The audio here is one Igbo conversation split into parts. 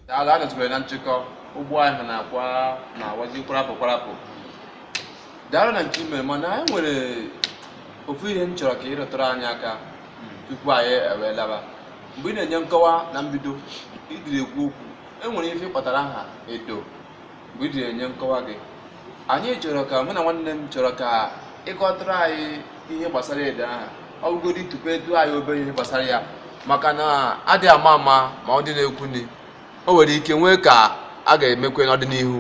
daalụ anọtụbere na nchịkọ ụgbọ ahụ na-akwa na-awazi kwarapụ kwarapụ daalụ na nke i mere mana anyị nwere ofu ihe m chọrọ ka ị rụtụrụ anyị aka tupu anyị ewee laba mgbe ị na-enye nkọwa na mbido idiri ekwu okwu e nwere ife ị kpọtara aha edo mgbe i ji enye nkọwa gị anyị chọrọ ka mụ na nwanne m chọrọ ka ị kọtụrụ anyị ihe gbasara edo aha ọ bụgodi tụpụtụ anyị obere ihe gbasara ya maka na adị ama ama ma ọ dị na-ekwu ni o nwere ike nwee ka a ga-emekwe n'ọdịnihu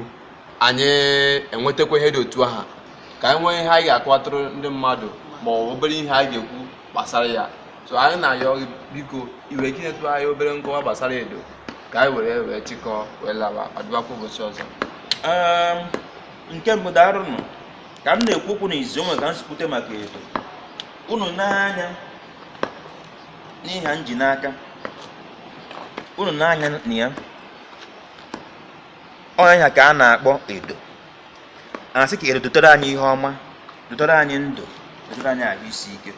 anyị enwetakwa ihe dị otu aha ka anyị nwee ihe anyị ga-akọwatụrụ ndị mmadụ ma ọ bụ obere ihe anyị ga-ekwu gbasara ya so anyị na-ayọ gị biko iwe gị nyetụ anyị obere nkọwa gbasara edo ka anyị were wee chịkọọ wee laba ọdịbakwa ụbọchị ọzọ Ehm, nke mbụ daarụ nụ ka m na-ekwu okwu na izizi o nwe ka m si kwute maka edo unu nee anya n'ihe m ji n'aka unu nee anya na ya ọ nya ka a na-akpọ edo a sị ka edo dotere anyị ihe ọma dotere anyị ndụ dotere anyị ahụ isi ike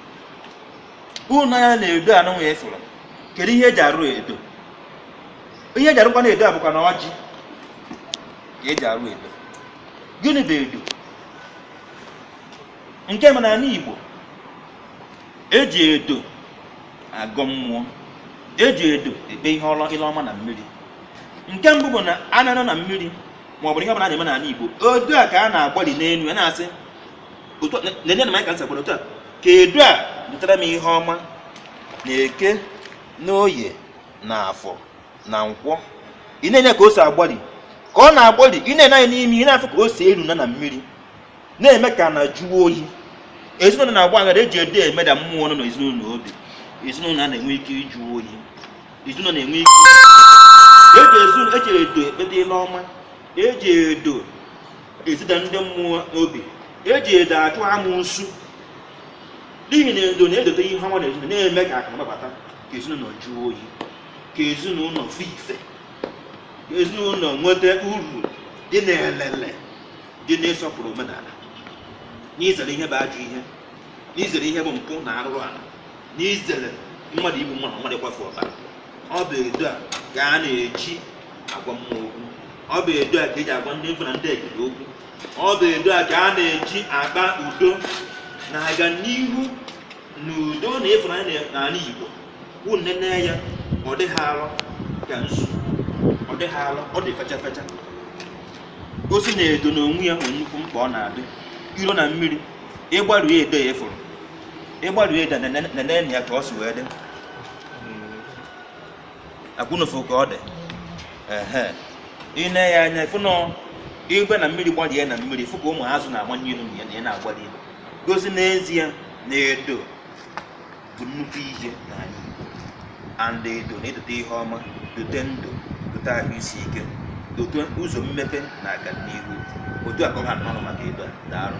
unu nee anya na edo a nụnwa ị fụrụ kedu ihe eji arụ edo ihe eji arụkwanụ edo a bụkwanụ ọjị ka eji arụ edo gịnị bụ edo nke ma n'ala Igbo eji edo agọ mmụọ eji edo ekpe ihe ile ọma na mmiri nke mbụ bụ na a na-anọ na mmiri ma ọ bụrụ ihe ọbụla a na-eme n'ala Igbo edo a ka a na-agbali n'elu ya na-asị nene na m ka m si agbali otu a ka edo a dotara m ihe ọma na eke na oye na afọ na nkwọ ị na-ene ka o si agbali ka ọ na-agbali ị na-ene anya n'ime ị na-afụ ka o si eru na na mmiri na-eme ka ana jụọ oyi ezinụlọ na-agba aghara eji edo emeda mmụọ nọ n'ezinụlọ obi ezinụlọ a na-enwe ike ịjụ oyi ezinụlọ na-enwe ike eji ezinụlọ eji edo ekpeta ile ọma eji edo ezida ndị mmụọ obi eji edo achụ amụsụ n'ihi na edo na-edote ihe ọma na ezinụlọ na-eme ka akụ gbabata ka ezinụlọ jụọ oyi ka ezinụlọ fụ ife ka ezinụlọ nweta uru dị n'elele dị n'ịsọpụrụ omenala n'izere ihe bụ ajọ ihe n'izere ihe bụ mpụ na arụrụ ala n'izere mmadụ igbu mmadụ mmadụ ịkwafu ọbara ọ bụ edo a ka a na-eji agwa mmụọ okwu ọ bụ edo a ka eji agwa ndị mbụ na ndị egede okwu ọ bụ edo a ka a na-eji akpa udo na-aga n'ihu n'udo na ịfụnanya n'ala Igbo bụ nnene ya ọ dịghị alọ ka nzu ọ dịghị alọ ọ dị fecha fecha gosi na edo n'onwe ya nwere nnukwu mkpa ọ na-adị iro na mmiri ịgbaru ya edo ya efuru ịgbaru ya edo nene ya ka o si wee dị akwụnofu ka ọ dị ehe i ne ya anya ị fụ na i gwe na mmiri gbarie na mmiri ị fụ ka ụmụ azụ na-amanye ilu na ya na-agbali ilu gosi n'ezie na edo bụ nnukwu ihe n'ala Igbo and edo na-edote ihe ọma dote ndụ dote ahụ isi ike dote ụzọ mmepe na agamnihu otu a ka ọ ha m n'ọnụ maka edo a daalụ